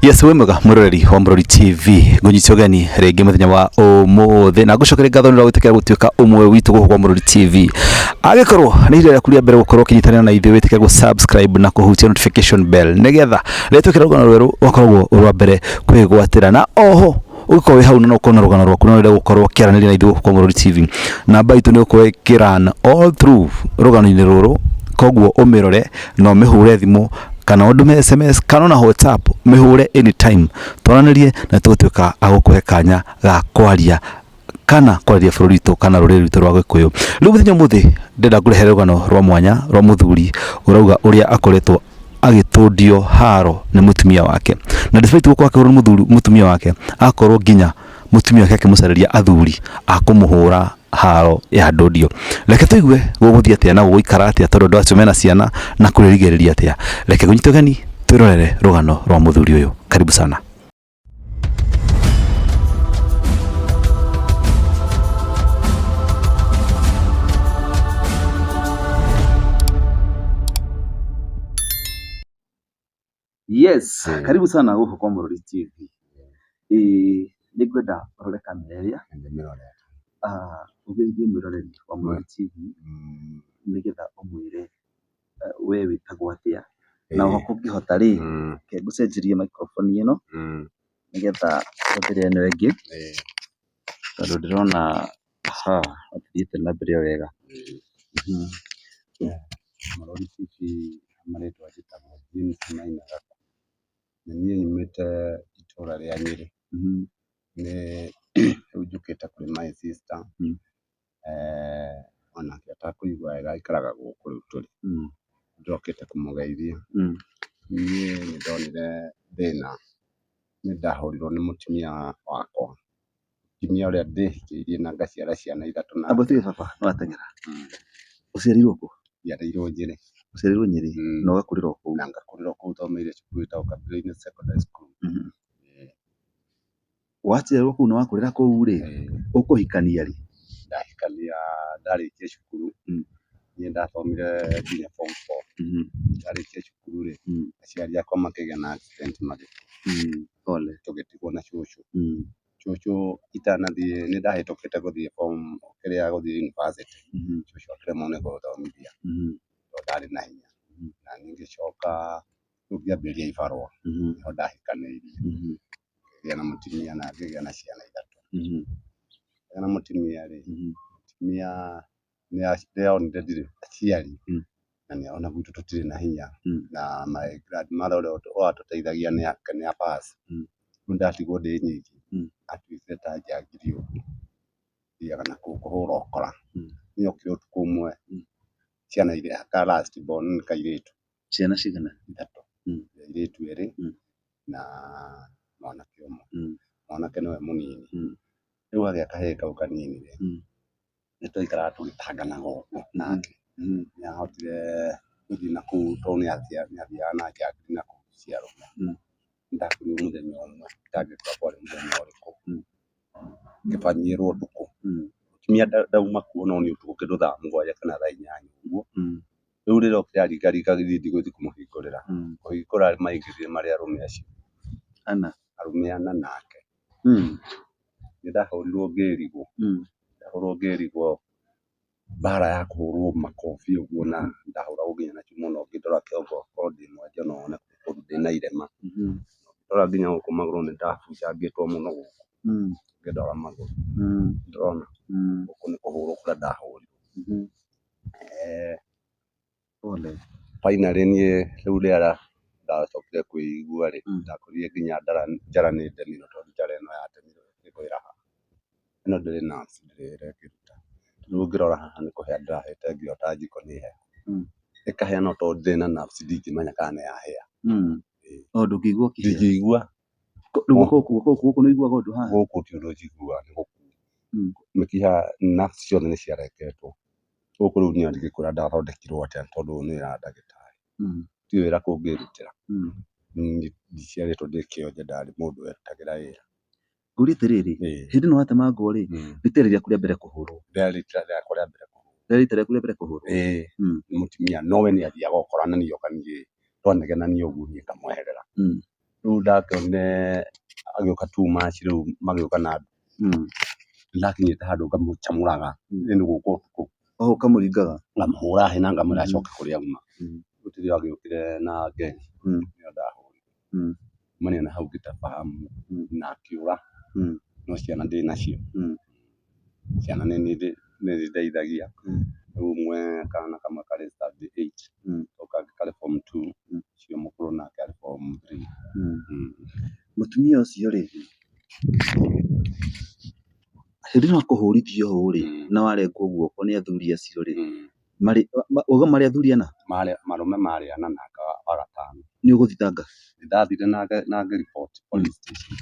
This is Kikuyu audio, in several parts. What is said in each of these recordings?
Yes we mwega muroreri wa Murori TV ngunyitio gani rĩngĩ mũthenya wa ũmũthĩ na ngũcokere ngatho nĩ ũrĩa gwĩtĩkĩra gũtuĩka ũmwe witũ gũkũ kwa Murori TV agĩkorwo nĩ ihinda rĩaku rĩa mbere gũkorwo ũkĩnyitanĩra na ithuĩ wĩtĩkĩra gũ-subscribe na kũhutia notification bell nĩgetha rĩrĩa twĩkĩra rũgano rwerũ ũgakoragwo ũrĩ wa mbere kwĩgwatĩra na oho ũgĩkorwo wĩ hau na no ũkorwo na rũgano rwaku na wenda gũkorwo ũkĩaranĩria na ithuĩ gũkũ Mũrũri TV namba itũ nĩ ũkorwo ĩkĩran all through rũgano-inĩ rũrũ koguo ũmĩrore na ũmĩhũre thimũ kana ũndũme SMS kana ona WhatsApp mĩhũre anytime twaranĩrie na tũgũtuĩka agũkũhe kanya ga kwaria kana kwarĩria bũrũri witũ kana rũrĩrĩ rwitũ rwa gĩkũyũ rĩu mũthenya mũthĩ ndenda ngũrehere rũgano rwa mwanya rwa mũthuri ũrauga ũrĩa akoretwo agĩtũndio haro nĩ mũtumia wake na despite gũkorwo akĩhũrwo nĩ mũthuri mũtumia wake akorwo nginya mũtumia wake akĩmũcarĩria athuri a kũmũhũra haro ya ndũndio reke tũigue gũgũthiĩ atĩa na gũgũikara atĩa tondũ andũ acio mena ciana na kũrĩrigĩrĩria atĩa reke kũnyita ũgeni twĩrorere rũgano rwa mũthuri ũyũ karibu sana Yes, Eh. karibu sana huko kwa Murori TV. Eh, nĩ ngwenda ũrore kamera ĩrĩa Nĩ mĩrore. ah, ũgeithie mwĩroreri wa Murori TV Mm, nĩgetha ũmwĩre we wĩtagwo atĩa, na oho kũngĩhota rĩ, reke ngũcenjerie microphone ĩno, nĩgetha hũthĩre ĩno ĩngĩ, tondũ ndĩrona ndũthiĩte na mbere o wega. Marĩtwa njĩtagwo James Maina Gaka, na niĩ nyumĩte itũra rĩa Nyĩrĩ, rĩu njũkĩte kwĩ my sister, Eh. Onake atakũigua wega aikaraga gũkũ rĩu tũrĩ. Mm. Njokete kũmũgeithia. Mm. Niĩ nĩndonire thĩna, nĩndahũrirwo nĩ mũtumia wakwa, mũtumia ũrĩa ndĩhikĩirie na ngaciara ciana ithatũ nake. Amba tuge baba nĩwateng'era. Mm. Ũciarĩirwo kũ? Njiarĩirwo Njĩrĩ. Ũciarĩirwo Nyĩrĩ Mm. na ũgakũrĩra o kũu. Na ngakũrĩra o kũu thomeire cukuru ĩtagwo Kapilwaine Secondary School. Mhm. Eh. Waciarwo kũu na wakũrĩra kũu rĩ, Eh, ũkũhikania rĩ? ndahikania ndarĩkia cukuru Mm. niĩ ndathomire nginya form four Mhm, ndarĩkia cukuru rĩ mm, aciari akwa makĩgĩa na accident magĩkua mm, pole. tũgĩtigwo na cũcũ Mm, cũcũ itanathiĩ nĩ ndahĩtũkĩte gũthiĩ form kĩrĩa gũthiĩ university mhm, cũcũ akĩremwo nĩ gũthomithia mhm, tondũ ndarĩ na hinya Mhm. na niĩ ngĩcoka rĩu ngĩambĩrĩria ibarũa mhm, nĩho ndahikanĩirie mhm, ngĩgĩa na mũtumia na ngĩgĩa na ciana ithatũ. Mhm. Ngĩgĩa na mũtumia rĩ, Mhm. mũtumia nĩonire ndirĩ aciari Mm. na nĩarona gwitũ tũtirĩ na hinya Mm. na my grandmother ũrĩa ũtũ- ũratũteithagia nĩ a- nĩ a pass. Mm. Rĩu ndatigwo ndĩ nyiki Mm. atuĩkire ta njangiri ũguo thiaga na kũu kũhũra ũkora. Mm. Nĩokire ũtukũ ũmwe Mm. ciana iria ka last born nĩ kairĩtu ciana cigana ithatũ Mm. airĩtu erĩ Mm. na mwanake ũmwe Mm. mwanake nĩwe mũnini Mm. rĩu gagĩa kahĩĩ kau kanini rĩ Mm. nĩtwaikaraga tũgĩtanganaga ũguo nake Mm. nĩahotire gũthiĩ nakũu tondũ nĩathiaga nĩathiaga nake akĩrĩ nakũu ciarũme Mm. ndakĩrĩo mũthenya ũmwe ndagĩtua kwarĩ mũthenya ũrĩkũ, ngĩbangĩrwo ũtukũ, mũtumia ndauma kuo no niĩ ũtukũ kĩndũ thaa mũgwanja kana thaa inyanya ũguo, rĩu rĩrĩa okire aringaringa gĩthiĩ ndigũthiĩ kũmũhingũrĩra, kũhingũra maingĩrire marĩ arũme acio ana, arũme ana nake, nĩ ndahũrirwo ngĩrigwo, ndahũrirwo ngĩrigwo. mbara ya kũhũrwo makobi ũguo na ndahũragwo nginya na cuma ona ũngĩndora kĩongo korwo ndĩ mwonje no wone kũndũ ndĩna irema. Ũngĩndora nginya gũkũ magũrũ nĩ ndahunjangĩtwo mũno gũkũ ũngĩndora magũrũ ndũrona. Gũkũ nĩ kũhũrwo kũrĩa ndahũrirwo. Finally niĩ rĩu rĩera ndacokire kwĩigua rĩ, ndakorire nginya njara nĩ ndemirwo tondũ njara ĩno yandemirwo ĩkĩgwĩra haha. Ĩno ndĩrĩ nayo ndĩrekĩruta. Rĩu ũngĩrora haha nĩ kũhĩa ndĩrahĩte nginya ta njiko nĩ hehu. Ĩkahĩa no tondũ ndĩrĩ na nerves ndingĩmenya kana nĩ yahĩa. Ndingĩigua. Gũkũ nĩ ũiguaga ũndũ haha? Gũkũ ti ũndũ njiguaga nĩ gũkua. Mĩkiha, nerves ciothe nĩ ciarengetwo. gũkũ rĩu niĩ ndingĩkwĩra ndathondekirwo atĩa tondũ ũyũ nĩ wĩra wa ndagĩtarĩ, ti wĩra kũngĩrutĩra. Niĩ ndiciarĩtwo ndĩ kĩonje ndarĩ mũndũ werutagĩra wĩra. Ngũrie atĩrĩrĩ, hĩndĩ ĩno watemangwo rĩ, rita rĩrĩ rĩaku rĩa mbere kũhũrwo? Rĩarĩ rita rĩakwa rĩa mbere kũhũrwo. Rĩarĩ rita rĩaku rĩa mbere kũhũrwo? Ĩĩ. Nĩ mũtumia no we nĩathiaga okoranagia oka niĩ, twanegenania ũguo niĩ ngamweherera. rĩu ndakĩonire agĩũka two match rĩu magĩũka na nduthi, nĩndakinyĩte handũ ngamũcamũraga nĩ gũka ũtukũ, oho ũkamũringaga? ngamũhũra hĩ na ngamwĩra acoke kũrĩa auma, rĩu tondũ agĩũkire na ngenge nĩyo ndahũrire, kuma niĩ na hau ngĩtaba hamu na akĩũra, no ciana ndĩnacio. Ciana nĩ nĩciteithagia, rĩu ũmwe kana kamwe karĩ standard eight, kau kangĩ karĩ form two, ũcio mũkũrũ nake arĩ form three. Mũtumia ũcio rĩ, hĩndĩ ĩno akũhũrithia ũũ rĩ, na warengwo guoko nĩ athuri acio rĩ, wauga marĩ athuri ana? Marũme marĩ ana na aka wa gatano. Nĩ ũgũthitanga? Nĩ ndathire na ngariboti police station.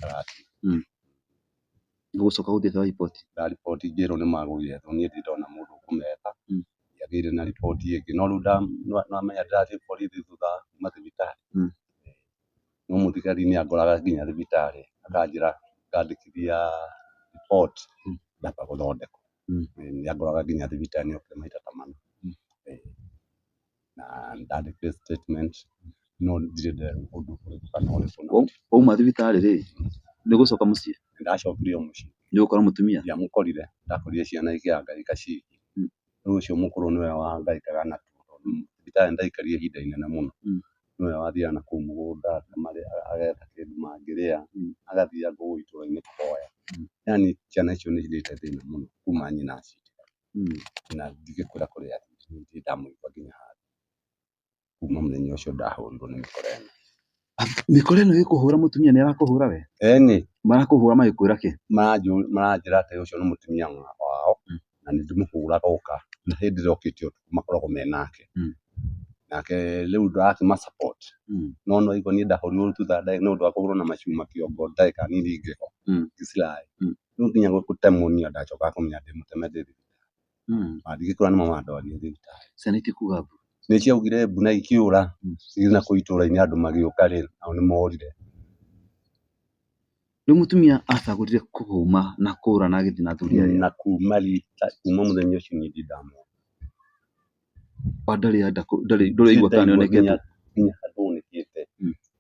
Nĩ gũcoka gũthiĩ eka riboti. Ndariboti ngĩrwo nĩ magũire tondũ niĩ ndirĩ ndona mũndũ ũkũmeta. Ndiagĩire na riboti ĩngĩ. No rĩu ndamenya ndĩrathiĩ borithi thutha wa kuuma thibitarĩ, no mũthigari nĩ angoraga nginya thibitarĩ akanjĩra ngandĩkithia riboti ndamba gũthondekwo. Nĩ angoraga nginya thibitarĩ nĩ okire maita ta mana. na ndandĩ case statement no ndirĩ ndeeruha ũndũ ũrĩkũ kana ũrĩkũ na Wa- Wauma thibitarĩ rĩ, nĩ gũcoka mũciĩ? nĩ ndacokire o mũciĩ Nĩ ũgũkora mũtumia? ndiamũkorire ndakorire ciana ikĩangaika ciki Mm. rĩu ũcio mũkũrũ nĩwe wangaikaga natuo tondũ thibitarĩ nĩ ndaikarire ihinda inene mũno Mm. nĩwe wathiaga na kũu mũgũnda akamarĩa agetha kĩndũ mangĩrĩa Mm. agathiaga kũu itũra-inĩ kũhoya Mm. yani ciana icio nĩ cirĩte thĩna mũno kuma nyina aci na ndingĩkwĩra kũrĩ a nĩ niĩ ndamũigua nginya handũ. Kuma mũthenya ũcio ndahũrirwo nĩ mĩkora ĩno. Mĩkora ĩno ĩkũhũra mũtumia nĩ ĩrakũhũra we? Ĩni. Marakũhũra magĩkwĩra kĩ? Maranjĩra atĩ ũcio nĩ mũtumia wao na nĩ ndĩmũhũraga oka na hĩndĩ ĩrĩa okĩte ũtukũ makoragwo me nake. Nake rĩu ndĩrakĩma support no nĩ waigua niĩ ndahũrirwo thutha nĩ ũndũ wa kũhũrwo na macuma kĩongo ndagĩka nini ngĩgwa. Rĩu nginya gũtemwo niĩ ona ndacokaga kũmenya ndĩmũteme ndĩ thibitarĩ. Mandigĩ kũrora nĩmo mandwarire thibitarĩ. Ciana itikũga mbu. Nĩ ciaugire mbu na ikĩũra. Rĩu na kũu itũũra-inĩ andũ magĩũka rĩ, nao nĩ morire. Rĩu mũtumia acagũrire kũhũma na kũũra na agĩthiĩ na athuri arĩa. Na kuuma rita, kuuma mũthenya ũcio niĩ ndirĩ ndamona. Wa ndarĩ anda kũ ndarĩ ndũraigua kana nĩonekete? Nginya nginya handũ onekete.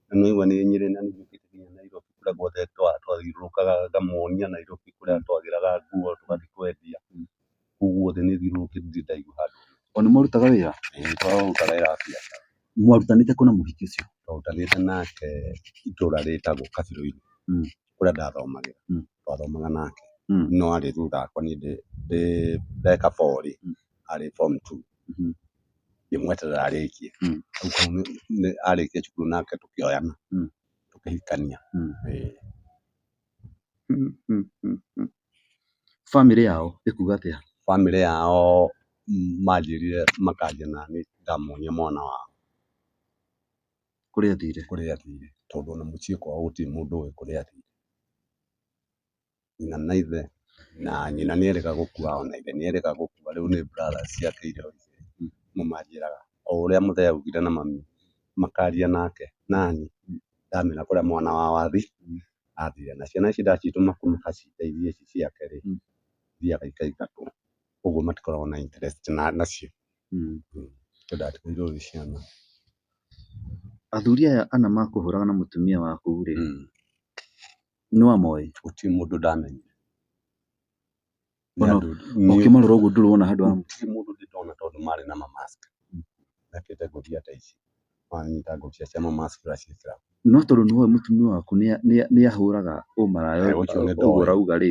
Na nĩ ũraigua nĩ Nyĩrĩ na nĩ njũkĩte nginya Nairobi kũrĩa guothe twa twathiũrũrũkaga ngamuonia Nairobi kũrĩa twagĩraga nguo tũgathi kwendia, kũu guothe nĩ thiũrũrũkĩte ndirĩ ndaigua handũ. O nĩ mũrutaga wĩra? Ĩĩ nĩ tũrutaga wĩra wa biacara. Mwarutanĩte kũ na mũhiki ũcio? Twarutanĩte nake itũũra rĩtagwo Kabirũ-inĩ. kũrĩa ndathomagĩra twathomaga nake no arĩ thutha wakwa niĩ ndĩ ndeka four rĩ arĩ form two ngĩmweterera arĩkie arĩkia cukuru nake tũkĩoyana tũkĩhikania. Bamĩrĩ yao ĩkuga atĩa? Bamĩrĩ yao manjĩrire makanjĩra naniĩ ngamonia mwana wao. kũrĩa athire? kũrĩa athire tondũ ona mũciĩ kwao gũtirĩ mũndũ ũĩ kũrĩa athire. Nyina na ithe, na nyina nĩ erĩga gũkua ona ithe nĩ erĩga gũkua, rĩu nĩ brothers ciake iria nĩmo manjĩraga o ũrĩa mũthee augire na mami makaria nake nani ndamenya kũrĩa mwana wao athi athire na ciana ici ndacitũma kũu makacindeithia ici ciake-rĩ, ithiaga ikaiga kũu. ũguo matikoragwo na interest nacio. Athuri aya ana makũhũrana na mũtumia waku rĩ, nĩ wamoĩ? Gũtirĩ mũndũ ndamenyire. Ũkĩmarora ũguo ndũrĩ wona handũ ha. Gũtirĩ mũndũ niĩ ndona tondũ marĩ na ma mask mekĩrĩte ngũbia ta ici, makanyita ngũbia cia ma mask magaciĩkĩra. No tondũ nĩ ũĩ mũtumia waku nĩ ahũraga ũmaraya ũcio ũguo ũrauga rĩ,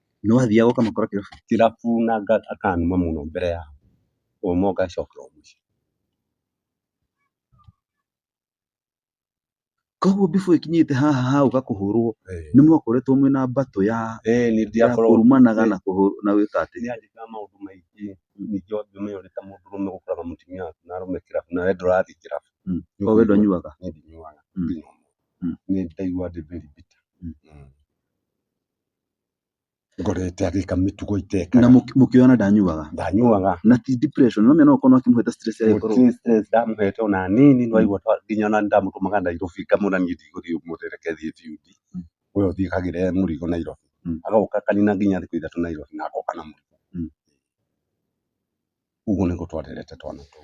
No athiaga ũkamakora kĩrabu na akanuma mũno mbere yao, ũguo magacokera mũciĩ. Koguo before ĩkinyĩte haha ha gũka kũhũrwo nĩ mwakoretwo mwĩna mbatũ ya kũrumanaga na gwĩka atĩ? Nĩ yanjĩkaga maũndũ maingĩ, ningĩ ũngĩmenya ũrĩ ta mũndũrũme ũgakora mũtumia waku na arũme kĩrabu na wee ndũrathiĩ kĩrabu. Koguo wee ndũnyuaga? Niĩ ndinyuaga. Nĩ ndaiguaga ndĩ very bitter. ngorete agĩka mĩtugo iteka na mũki- mũkĩona ndanyuaga ndanyuaga na ti depression no mena ũkorwo akĩmũhete stress ya gũkorwo Gũtirĩ stress ndamũhete ona nini no aigua ta- nginya ona ndamũtũmaga Nairobi ngamwĩra niĩ ndigũthiĩ ũmũthĩ reke thiĩ biuthi Mm. we ũthiĩ kagĩre mũrigo Nairobi Mm. agoka akanina nginya thikũ ithatũ Nairobi na agoka na mũrigo Mm. ũguo nĩguo twarerete twana tũu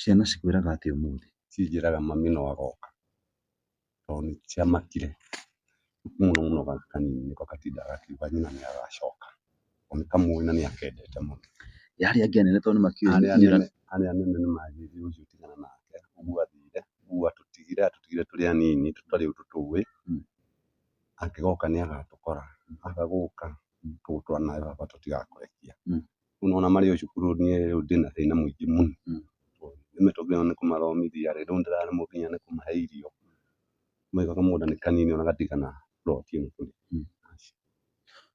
Ciana cikwĩraga atĩa ũmũthĩ? Cinjĩraga mami no agoka tondũ nĩciamakire mũno mũno gaka kanini nĩko gatindaga gakiuga nyina nĩagacoka tondũ nĩkamũĩ na nĩakendete mũno. Ĩ arĩa angĩ anene tondũ nĩmakĩũĩ Arĩa anene arĩa anene nĩmanjĩrĩirie gũtigana nake ũguo athire, ũguo atũtigire atũtigire tũrĩ anini tũtarĩ ũndũ tũĩ, angĩgoka nĩagatũkora, aga gũka tũgũtũra nawe baba tũtigakũrekia. Rĩu nĩ wona marĩ o cukuru niĩ rĩu ndĩ na thĩna mũingĩ mũno. Nĩ mĩtũkĩ ĩno nĩ kũmathomithia rĩ, rĩu ndĩraremwo nginya nĩ kũmahe irio. Ũĩ kamũgũnda nĩ kanini ona gatigana plot ĩmwe kũrĩa.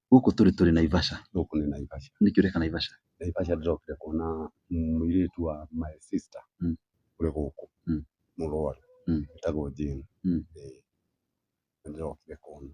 Gũkũ tũrĩ tũrĩ Naivasha. Gũkũ nĩ Naivasha. Nĩkĩ ũreka Naivasha? Naivasha ndĩrokire kuona mũirĩtu wa my sister ũrĩ gũkũ, mũrũaru, etagwo Jane. Ĩĩ. Nĩ ndĩrokire kũmwona.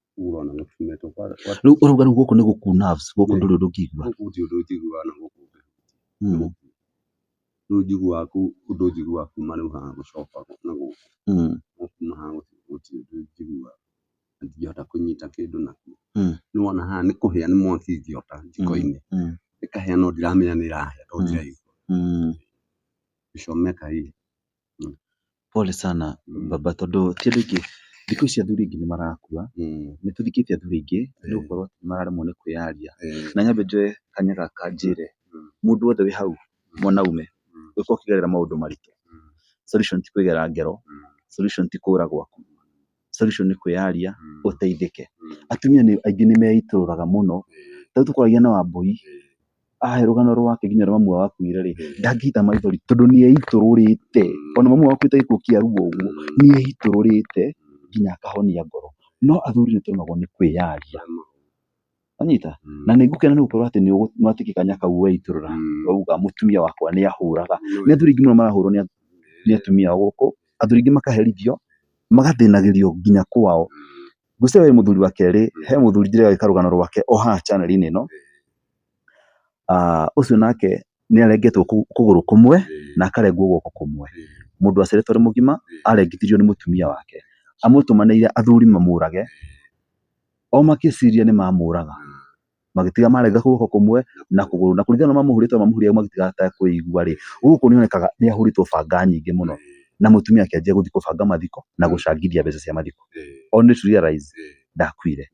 urona na kumeto kwa Rĩu ũrauga rĩu gũkũ nĩ gũku nerves, gũkũ ndũrĩ ũndũ ũngĩigua. gũkũ gũtirĩ ũndũ njiguaga na gũkũ Mm, rĩu njiguaga kũu ũndũ njiguaga kuma rĩu haha gũcoka na gũkũ mm, no kuma haha gũthiĩ gũtirĩ ũndũ njiguaga na ndingĩhota kũnyita kĩndũ nakuo Mm. nĩwona haha nĩ kũhĩa nĩ mwaki ingĩota njiko-inĩ mm, ĩkahĩa no ndiramenya nĩ ĩrahĩa tondũ Mm. ndiraigua mm. gĩcomeka ĩ Pole sana baba tondũ ti ũndũ ũngĩ, thikũ ici athuri aingĩ nĩ marakua, nĩ tũthikĩtie athuri aingĩ nĩ gũkorwo nĩ mararemwo nĩ kwĩyaria. Na nyambe njoe kanya gaka njĩre mũndũ wothe wĩ hau mwanaume ũngĩkorwo ũkĩgerera maũndũ maritũ, solution ti kwĩgera ngero, solution ti kũũra gwaku. solution nĩ kwĩyaria ũteithĩke. Atumia aingĩ nĩ meitũrũraga mũno, ta rĩu tũkwaragia na Wambũi, ahe rũgano rwake nginya rwa mamu wao wakuire rĩ, ndangĩita maithori tondũ nĩ eitũrũrĩte, ona mamu wao akuĩte gĩkuũ kĩa ruo ũguo, nĩ eitũrũrĩte nginya akahonia ngoro. No athuri nĩ tũremagwo nĩ kwĩyaria. Wanyita? Mm. na nĩ ngũkena nĩ gũkorwo atĩ nĩ ũgũ- nĩ watuĩkĩka kanya kau weitũrũra Mm. wauga mũtumia wakwa nĩ ahũraga Nĩ nĩ athuri aingĩ mũno marahũrwo nĩ ath- nĩ atumia ao gũkũ athuri aingĩ makaherithio magathĩnagĩrio nginya kwao ngwĩciria we mũthuri wa kerĩ he mũthuri ndĩrega gwĩka rũgano rwake o haha chanel-inĩ ĩno Ah, ũcio nake nĩ arengetwo kũ- kũgũrũ kũmwe na akarengwo guoko kũmwe mũndũ waceretwo arĩ mũgima arengithirio nĩ mũtumia wake amũtũmanĩire athuri mamũrage o makĩciria nĩ mamũraga magĩtiga marenga guoko kũmwe na kũgũrũ na kũringana na mamũhũrĩte mamũhũrĩte magĩtiga atakũigua rĩ gũkũ nĩ onekaga nĩ ahũrĩtwo banga nyingĩ mũno na mũtumia akĩanjia gũthiĩ kũbanga mathiko na gũcangithia mbeca cia mathiko only to realize ndakuire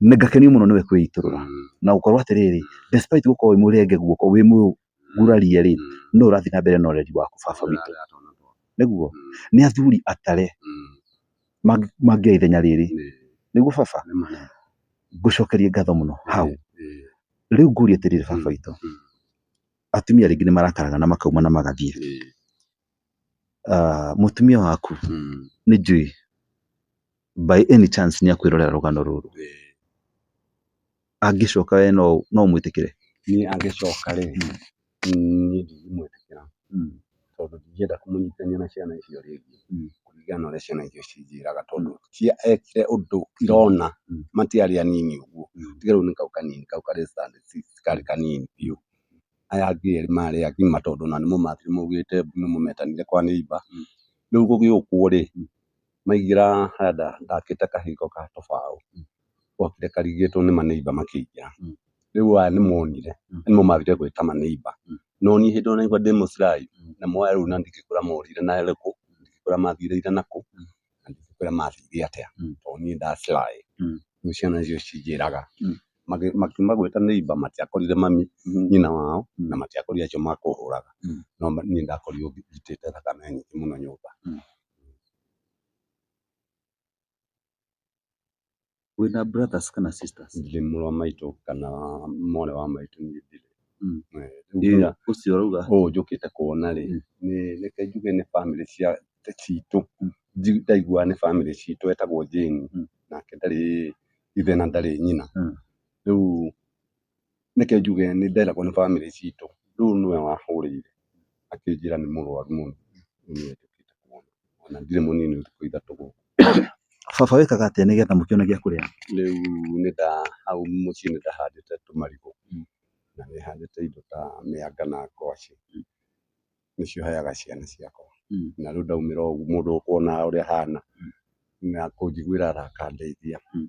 nĩ ngakenio mũno nĩwe kwĩitũrũra na gũkorwo atĩrĩrĩ despite gũkorwo wĩ mũrenge guoko wĩ gurarie rĩ, nũũ ũrathiĩ na mbere na ũreri wa baba witũ? Nĩguo? Nĩ athuri atare mangĩoya ithenya rĩrĩ. Nĩguo baba? Ngũcokeria ngatho mũno hau. Rĩu ngũrie atĩrĩrĩ baba witũ, atumia rĩngĩ nĩ marakaraga na makauma na magathiĩ. Ah, mũtumia waku Mm. nĩ njui by any chance nĩ akwĩrorera rũgano rũrũ Eh, angĩcoka we no no mwĩtĩkĩre niĩ angĩcoka rĩ niĩ ndingĩmwĩtĩkĩra Mm. tondũ ndingĩenda kũmũnyitithania na ciana icio rĩngĩ Mm. kũringana na ũrĩa ciana icio cinjĩraga tondũ ti ekire ũndũ irona Mm. matiarĩ anini ũguo Mm. tiga rĩu nĩ kau kanini kau karĩ standard six karĩ kanini biũ aya angĩ erĩ marĩ agima tondũ ona nĩmo maugĩte nĩmo metanire kwa neighbor. Rĩu gũgĩũkwo rĩ, maingĩra harĩa ndakĩte kahingo ga tũbaũ, gwokire karigĩ tondũ nĩ ma neighbor makĩingĩra. Rĩu aya nĩ monire na nĩmo mathire gwĩta ma neighbor. No niĩ hĩndĩ ĩyo naigua ndĩ mũcuraĩ, namo aya rĩu na ndingĩkĩũria maorire na ĩrĩkũ, ndingĩkĩũria mathire na kũ. kũrĩa mathire atĩa tondũ niĩ nda sly rĩu ciana icio cinjĩraga makiuma gwĩta neighbor matiakorire mami nyina wao na matiakorire acio makũhũraga no niĩ ndakorirwo njitĩte thakame nyingĩ mũno nyũmba. Wĩna brothers kana sisters? Ndirĩ mũrũ wa maitũ kana mwarĩ wa maitũ niĩ ndirĩ. Ũcio ũrauga? Ũyũ njũkĩte kuona rĩ, reke njuge nĩ bamĩrĩ cia citũ, ndaiguaga nĩ bamĩrĩ citũ etagwo Jane, nake ndarĩ ithe na ndarĩ nyina. Rĩu Reke njuge nĩ nderagwo nĩ bamĩrĩ citũ, rĩu nĩwe wahũrĩire akĩnjĩra nĩ mũrwaru mũno na ndirĩ mũnini thikũ ithatũ gũkũ. Baba wĩkaga atĩa nĩgetha mũkĩone gĩa kũrĩa? Rĩu nĩ nda, hau mũciĩ nĩ ndahandĩte tũmarigũ na nĩ handĩte indo ta mĩanga na ngwacĩ. nĩcio heaga ciana ciakwa. Mm. Na rĩu ndaumĩra ũguo mũndũ ũkuona ũrĩa hana Mm. na kũnjiguĩra tha akandeithia Mm.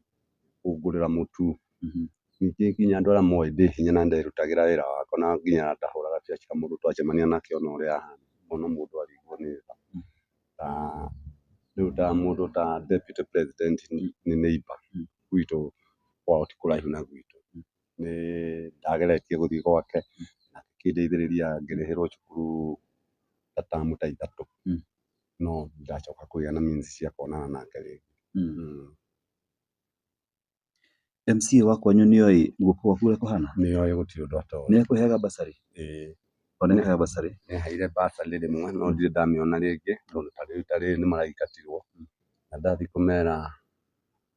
kũngũrĩra mũtu. Mhm. Ningĩ nginya andũ arĩa moĩ ndĩ hinya na nderutagĩra wĩra wakwa na nginya ndahũraga biacara mũndũ twacemania nake ona ũrĩa ahana ngona mũndũ arĩirwo nĩ tha. Mm. Ta rĩu ta mũndũ ta deputy president nĩ nĩ neighbour Mm. gwitũ kwao ti kũraihu na gwitũ. nĩ ndageretie gũthiĩ gwake na akĩndeithĩrĩria ngĩrĩhĩrwo cukuru ta tamu ta ithatũ, no ndĩracoka kũgĩa na means cia kuonana nake rĩngĩ. MCA wa kwanyu nĩ oĩ guoko gwaku ũrĩa kũhana? Nĩ oĩ gũtirĩ ũndũ atoĩ. Nĩ akũheaga bursary? Ĩĩ. O nĩ akũheaga bursary? Nĩ aheire bursary rĩmwe no ndirĩ ndamĩona rĩngĩ tondũ ta rĩu ta rĩrĩ nĩ maragĩkatirwo na ndathiĩ kũmera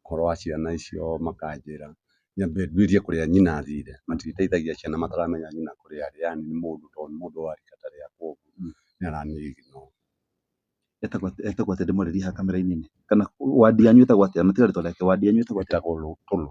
ũhoro wa ciana icio makanjĩra nyambe nduĩrie kũrĩa nyina athire. Matirĩteithagia ciana mataramenya nyina kũrĩa arĩ yani nĩ mũndũ to nĩ mũndũ wa rika ta rĩakwa ũguo nĩ aramĩigua. Etagwo atĩa ndĩmwarĩrie haha kamera-inĩ-inĩ? Kana ward yanyu ĩtagwo atĩa? Kana tiga rĩtwa rĩake, ward yanyu ĩtagwo atĩa? Etagwo Lũtũlũ.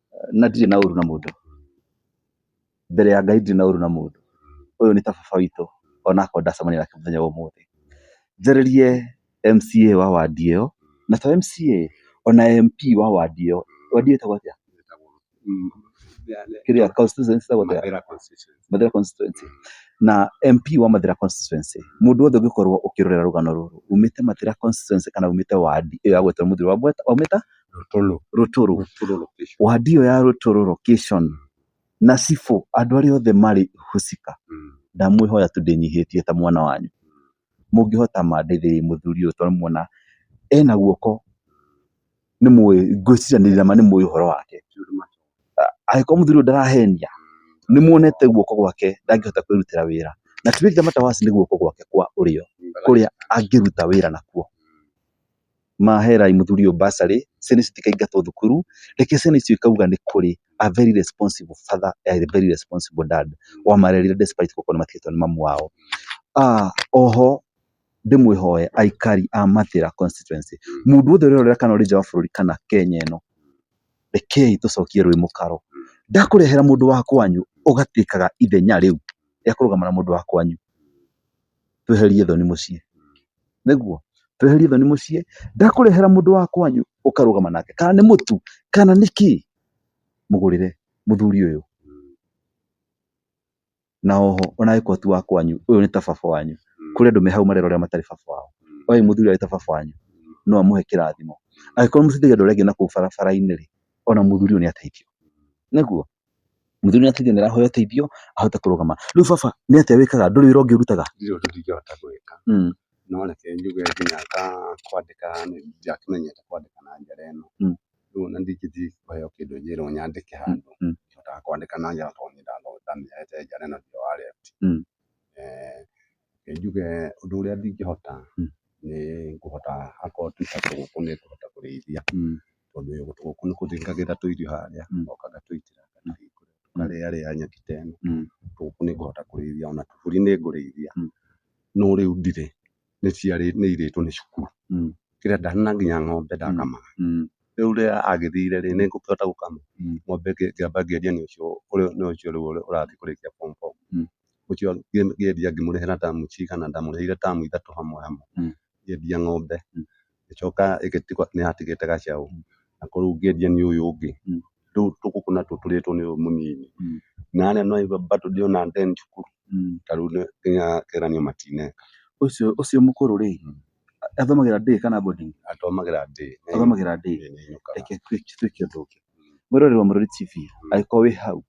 na ndirĩ na ũru na mũndũ, mbere ya Ngai ndirĩ na ũru na mũndũ, ũyũ nĩ ta baba witũ ona akorwo ndacemania nake mũthenya wa ũmũthĩ. Njarĩrie MCA wa wandi ĩyo, na to MCA, ona MP wa wandi ĩyo, wandi ĩyo ĩtagwo atĩa? kĩrĩa constituency ĩtagwo atĩa? Mathĩra constituency. Na MP wa Mathĩra constituency, mũndũ wothe ũngĩkorwo ũkĩrorera rũgano rũrũ, umĩte Mathĩra constituency kana umĩte wandi ĩyo ya gwetwo mũthuri wa Mweta, waumĩte... Rũtũrũ. Rũtũrũ. Rũtũrũ location. Wadi ĩyo ya Rũtũrũ location na cibũ andũ arĩa othe marĩ husika Mm. ndamwĩhoya tu ndĩnyihĩtie ta mwana wanyu mũngĩhota mandeithĩrĩrie mũthuri ũyũ tondũ muona ena guoko nĩ mũĩ ngwĩciria nĩ ndĩrama nĩ mũĩ ũhoro wake Tũndũ ma- angĩkorwo mũthuri ũyũ ndarahenia nĩ muonete guoko gwake ndangĩhota kwĩrutĩra wĩra na ti wĩra matawasi nĩ guoko gwake kwa ũrĩo kũrĩa angĩruta wĩra nakuo maherai mũthuri ũyũ bursary, ciana ici citikaingatwo thukuru, reke ciana icio ikauga nĩ kũrĩ, a very responsible father and a very responsible dad wamarerire despite gũkorwo nĩ matigĩtwo nĩ mamu wao. Oho ndĩmwĩhoe aikari a Mathĩra constituency, mũndũ wothe ũrerorera kana ũrĩ nja wa bũrũri kana Kenya ĩno, rekei tũcokie rwĩ mũkaro. Ndakũrehera mũndũ wa kwanyu ũgatuĩkaga ithenya rĩu rĩa kũrũgama na mũndũ wa kwanyu? tweherie thoni mũciĩ. Nĩguo? Tweherie thoni mũciĩ, ndakũrehera mũndũ wa kwanyu ũkarũgama nake, kana nĩ mũtu, kana nĩ kĩ, mũgũrĩre mũthuri ũyũ. Na oho ona angĩkorwo ti wa kwanyu, ũyũ nĩ ta baba wanyu. Kũrĩ andũ me hau marera ũrĩa matarĩ baba wao. Oĩ mũthuri ũyũ arĩ ta baba wanyu, no amũhe kĩrathimo. Angĩkorwo nĩ mũteithagia andũ arĩa angĩ na kũu barabara-inĩ-rĩ, ona mũthuri ũyũ nĩ ateithio. Nĩguo? Mũthuri nĩ atuire nĩ araheo ũteithio ahote kũrũgama. Rĩu baba nĩ atĩa wĩkaga? Ndũrĩ wĩra ũngĩ ũrutaga? ndirĩ ũndũ ndingĩhota gwĩka Mm. no reke njuge nginya ta kwandĩka nĩ- ndiakĩmenyete kwandĩka na njĩra ĩno Mm. rĩu ona ndingĩthiĩ kũheo kĩndũ njĩrwo nyandĩke handũ mm. ndihotaga kwandĩka na njĩra tondũ nĩ ndathomete njĩra ĩno nĩyo ya left Mm. Eh, Reke njuge ũndũ ũrĩa ndingĩhota nĩ kũhota akorwo tuta tũgũkũ nĩ kũhota kũrĩithia, tondũ tũgũkũ tũkũ nĩ kũtũigagĩra tũirio harĩa, tũgoka gatũitĩra tũkarĩarĩa nyeki ta ĩno, tũgũkũ nĩ ngũhota kũrĩithia ona tũbũri nĩ ngũrĩithia, no rĩu ndirĩ, nĩ ciarĩtwo nĩ irĩtwo nĩ cukuru, kĩrĩa nda na nginya ng'ombe ndakamaga, rĩu rĩrĩa agĩthire rĩ, nĩ ngũkĩhota gũkama, ng'ombe ngĩamba ngĩendia nĩ ũcio ũrĩa ũrathiĩ kũrĩkia form four. ũcio ngĩendia ngĩmũrĩhĩra tamu cigana, ndamũrĩhire tamu ithatũ hamwe hamwe ngĩendia ng'ombe, ngĩcoka ĩgĩtigwo nĩ yatigĩte gacaũ, na kũu ngĩendia nĩ ũyũ ũngĩ, rĩu tũgũkũ natuo tũrĩtwo nĩ ũyũ mũnini, na harĩa no igua bado ndĩ ona deni cukuru, ta rĩu nginya ngeranio matineka. Ũcio mũkũrũ rĩ, athomagĩra day kana boarding? Athomagĩra day. Athomagĩra day, reke twĩke ũndũ ũngĩ, wĩrorere Mũrũri TV, angĩkorwo wĩ hau,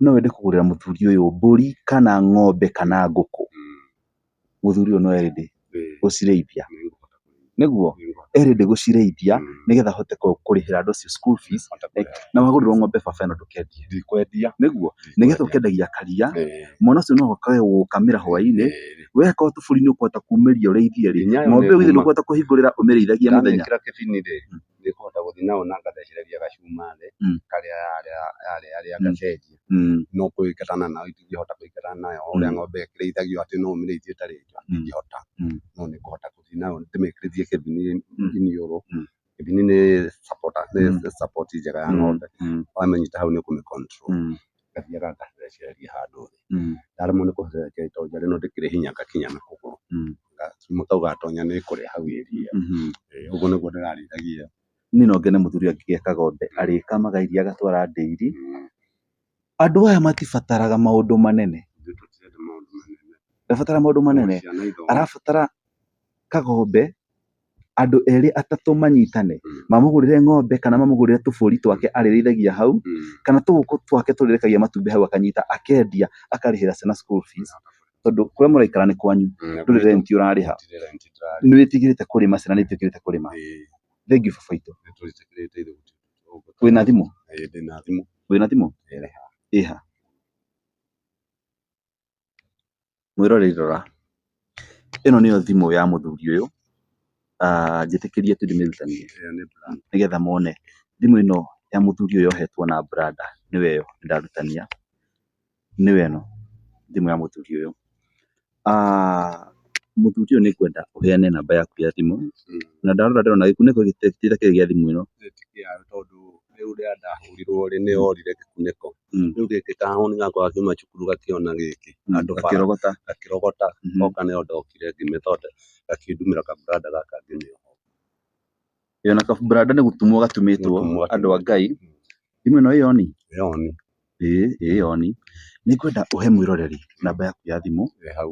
no wende kũgũrĩra mũthuri ũyũ mbũri kana ng'ombe kana ngũkũ, mũthuri ũyũ no e ready gũcirĩithia, nĩguo? E ready gũcirĩithia nĩgetha ahote kũrĩhĩra andũ acio school fees, na wagũrĩrwo ng'ombe baba ĩno ndũkendia, nĩguo? Nĩgetha ũkendagia karia, mwana ũcio no oke gũgũkamĩra hwainĩ, we akorwo tũbũri nĩ ũkũhota kumĩria ũrĩithie-rĩ, ng'ombe ĩyo githĩ ndũkũhota kũhingũrĩra ũmĩrĩithagie mũthenya? nĩ ngũhota gũthiĩ nao na ngathecereria gacuma thĩ Mm. karĩa yarĩ yarĩa Mm. ngacenjia Mm. no kũingatana nayo itingĩhota kũingatana nayo o ũrĩa Mm. ng'ombe ĩkĩrĩithagio atĩ no ũmĩrĩithie ĩtarĩ nja Mm. ndingĩhota Mm. no nĩ ngũhota gũthiĩ nayo ndĩmĩkĩrĩthie kĩbini Mm. iniũrũ Mm. kĩbini nĩ supporter nĩ Mm. support njega ya Mm. ng'ombe Mm. wamĩnyita hau nĩ ũkũmĩ control Mm. ngathiaga ngathecereria handũ thĩ, ndaremwo nĩ kũhecereria tondũ njarĩ no ndĩkĩrĩ hinya ngakinya na kũgũrũ, na kau gatonya nĩ kũrĩa hau iria, ũguo nĩguo ndĩrarĩithagia. Niĩ no ngene mũthuri ũyũ angĩgĩaka ng'ombe, arĩkamaga iria agatwara ndĩri, andũ aya matibataraga maũndũ manene, ndarabatara maũndũ manene, arabatara kag'ombe. andũ erĩ atatũ manyitane Mm. mamũgũrĩre ng'ombe kana mamũgũrĩre tũbũri twake arĩrĩithagia hau Mm. kana tũgũkũ twake tũrĩrekagia matumbĩ hau akanyita akendia akarĩhĩra ciana school fees tondũ kũrĩa mũraikara nĩ kwanyu Mm. ndũrĩ renti ũrarĩha Ndirĩ rent ndĩrarĩha. nĩ wĩtigĩrĩte kũrĩma ciana nĩ itiũkĩrĩte kũrĩma Ĩĩ, thank you baba itũ nĩ tũrĩtĩkĩrĩte ithuĩ gũtirĩ ũndũ tũgũka. wĩna thimũ Ĩĩ, ndĩna thimũ wĩna thimũ Ĩrĩ ĩha Mwĩroreri rora, ĩno nĩyo thimũ ya mũthuri ũyũ, njĩtĩkĩrie tu ndĩmĩrutanie nĩgetha mone. Thimũ ĩno ya mũthuri ũyũ yohetwo na branda nĩyo ĩyo ndĩrarutania, nĩyo ĩno thimũ ya mũthuri ũyũ. Mũthuri ũyũ nĩ ngwenda ũheane namba yaku ya thimũ, na ndarora ndĩrona gĩkunĩko gĩtirĩ gĩa thimũ ĩno. Mm. rĩu gĩkĩ kahũni gakwa gakiuma cukuru gakĩona gĩkĩ Mm, Andũ bara. gakĩrogota gakĩrogota Mhm. oka nĩyo ndokire ngĩmĩthonde gakĩndumĩra kaburanda gaka ngĩmĩoha ĩyo na kaburanda nĩ gũtumwo gatumĩtwo Gũtumwo gatumĩtwo. andũ a ngai thimũ ĩno ĩyoni yoni ĩĩ ĩyoni nĩ ngwenda ũhe mwĩroreri namba yaku ya thimũ ĩ hau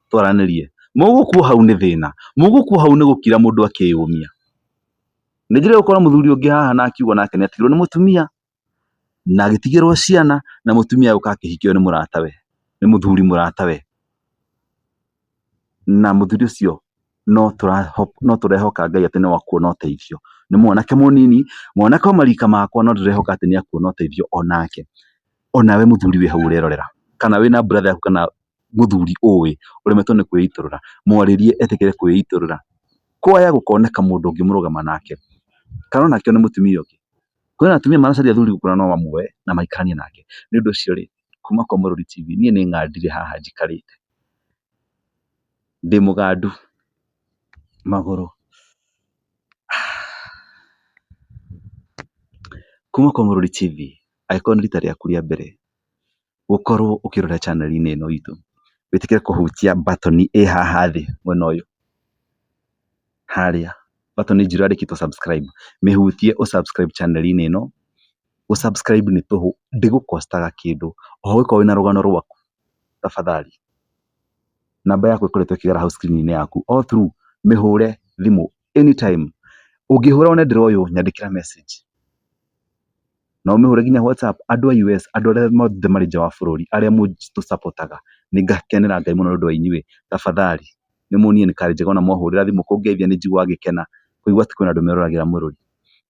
twaranĩrie, mũgũkua hau nĩ thĩna, mũgũkua hau nĩ gũkira mũndũ akĩyũmia. Nĩ njĩrĩga gũkora mũthuri ũngĩ haha na akiuga nake nĩ atigirwo nĩ mũtumia, na agĩtigĩrwo ciana, na mũtumia agĩũka akĩhikio nĩ mũratawe, nĩ mũthuri mũratawe. Na mũthuri ũcio no no tũrehoka Ngai atĩ no akuona ũteithio. Nĩ mwanake mũnini, mwanake o marika makwa no ndĩrehoka atĩ nĩ akuona ũteithio onake. Onawe mũthuri wĩ hau ũrerorera, kana wĩna brother yaku kana mũthuri ũĩ ũremetwo nĩ kwĩitũrũra, mwarĩrie etĩkĩre kwĩitũrũra. Kwaya gũkoneka mũndũ ũngĩmũrũgama nake, kana onake one mũtumia ũngĩ. Kwĩna atumia maracaria athuri gũkũ na no mamuoe na maikaranie nake. Nĩ ũndũ ũcio rĩ, kuma kwa Mũrũri TV niĩ nĩ ng'andire haha njikarĩte, ndĩ mũgandu magũrũ. Kuma kwa Mũrũri TV, angĩkorwo nĩ rita rĩaku rĩa mbere, ũkorwo ũkĩrora channel inĩ ĩno itũ, wĩtĩkĩre kũhutia button ĩ haha thĩ mwena ũyũ, harĩa button njirũ yandĩkĩtwo subscribe, mĩhutie ũ subscribe channel inĩ ĩno, gũ subscribe nĩ tũhũ, ndĩgũ cost aga kĩndũ, oho ũngĩkorwo wĩna rũgano rwaku, tafadhali namba yaku ĩkoretwo ĩkĩgera hau screen inĩ yaku, all through mĩhũre thimũ anytime. Ũngĩhũra wone ndĩroywo nyandĩkĩra message. No ũmĩhũre nginya WhatsApp. Andũ a US, andũ arĩa othe marĩ nja wa bũrũri, arĩa mũtũ support aga, nĩ ngakenera Ngai mũno nĩ ũndũ wa inyuĩ. Tafadhali, nĩ muonie nĩ card njega ona mwahũrĩra thimũ kũngeithia nĩ njiguaga ngĩkena kũigua atĩ kwĩna andũ meroragĩra mũrũri.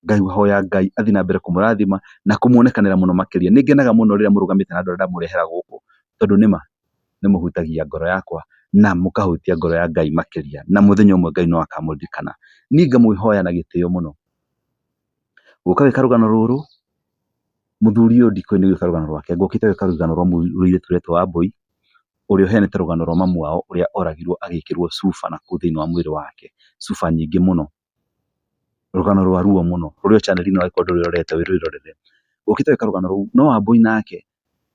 Ngahoya Ngai athiĩ na mbere kũmũrathima na kũmuonekanĩra mũno makĩria. Nĩ ngenaga mũno rĩrĩa mũrũgamĩte na andũ arĩa ndamũrehera gũkũ tondũ nĩ ma. nĩ mũhutagia ngoro yakwa na mũkahutia ngoro ya Ngai makĩria na mũthenya ũmwe Ngai no akamũririkana. Niĩ ngamwĩhoya na gĩtĩo mũno, gũka gwĩka rũgano rũrũ, mũthuri ũyũ ndikũĩ nĩ gwĩka rũgano rwake egũkĩte gwĩka rũgano rwa mũirĩtu ũretwo Wambũi, ũrĩa ũheanĩte rũgano rwa mamu wao ũrĩa oragirwo agĩkĩrwo cuba nakũu thĩiniĩ wa mwĩrĩ wake, cuba nyingĩ mũno. Rũgano rwa ruo mũno, rũrĩa channel ĩno angĩkorwo ndũrĩrorete wĩrorere, ũkĩte gwĩka rũgano rũu, no Wambũi nake,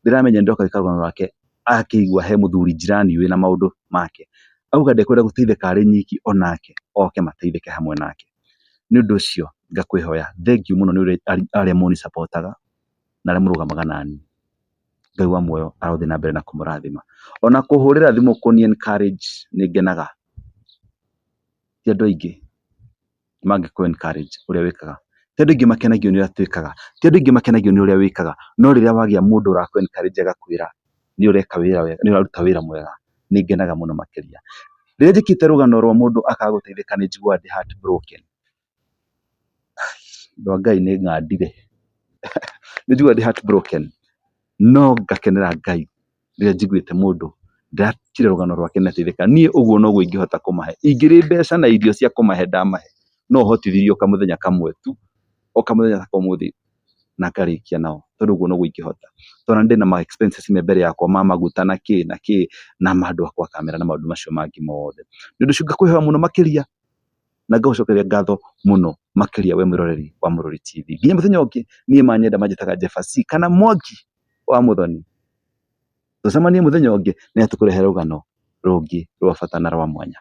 ndĩramenya nĩ ndoka gwĩka rũgano rwake, akĩigua he mũthuri njirani wĩna maũndũ make, auga ndekwenda gũteithĩka arĩ nyiki onake oke mateithĩke hamwe nake. Nĩ ũndũ ũcio ngakwĩhoya, thengiũ mũno nĩ ũrĩa arĩa mũnĩ support aga, na arĩa mũrũgamaga naniĩ. Ngai wa muoyo arothiĩ na mbere na kũmũrathima. Ona kũhũrĩra thimũ kũni encourage nĩ ngenaga. ti andũ aingĩ mangĩkũ encourage ũrĩa wĩkaga, ti andũ aingĩ makenagio nĩ ũrĩa twĩkaga, ti andũ aingĩ makenagio nĩ ũrĩa wĩkaga, no rĩrĩa wagĩa mũndũ ũrakũ encourage agakwĩra nĩ ũreka wĩra wega, nĩ ũraruta wĩra mwega, nĩ ngenaga mũno makĩria. Rĩrĩa njĩkĩte rũgano rwa mũndũ akaga gũteithĩka nĩ njiguaga ndĩ heart broken. Andũ a Ngai nĩ ng'andire. Nĩ njiguaga ndĩ heart broken no ngakenera Ngai rĩrĩa njiguĩte mũndũ ndĩratigĩra rũgano rwake na ndateithĩka, niĩ ũguo noguo ingĩhota kũmahe. Ingĩrĩ mbeca na irio cia kũmahe ndamahe, no hotithirie o kamũthenya kamwe tu, o kamũthenya ta ka ũmũthĩ na ngarĩkia nao, tondũ ũguo noguo ingĩhota. Tondũ ona nĩ ndĩ na ma expenses me mbere yakwa ma maguta na kĩ na kĩ, na andũ a gwa kamera na maũndũ macio mangĩ mothe. Nĩ ũndũ ũcio ngakwĩhoya mũno makĩria na ngagũcokeria ngatho mũno makĩria wee mwĩroreri wa Mũrũri TV. Nginya mũthenya ũngĩ, niĩ manyenda manjĩtaga Jeba Cee kana Mwangi. wa Mũthoni? Tũcemanie mũthenya ũngĩ nĩgetha tũkũrehere rũgano rũngĩ rwa bata na rwa mwanya.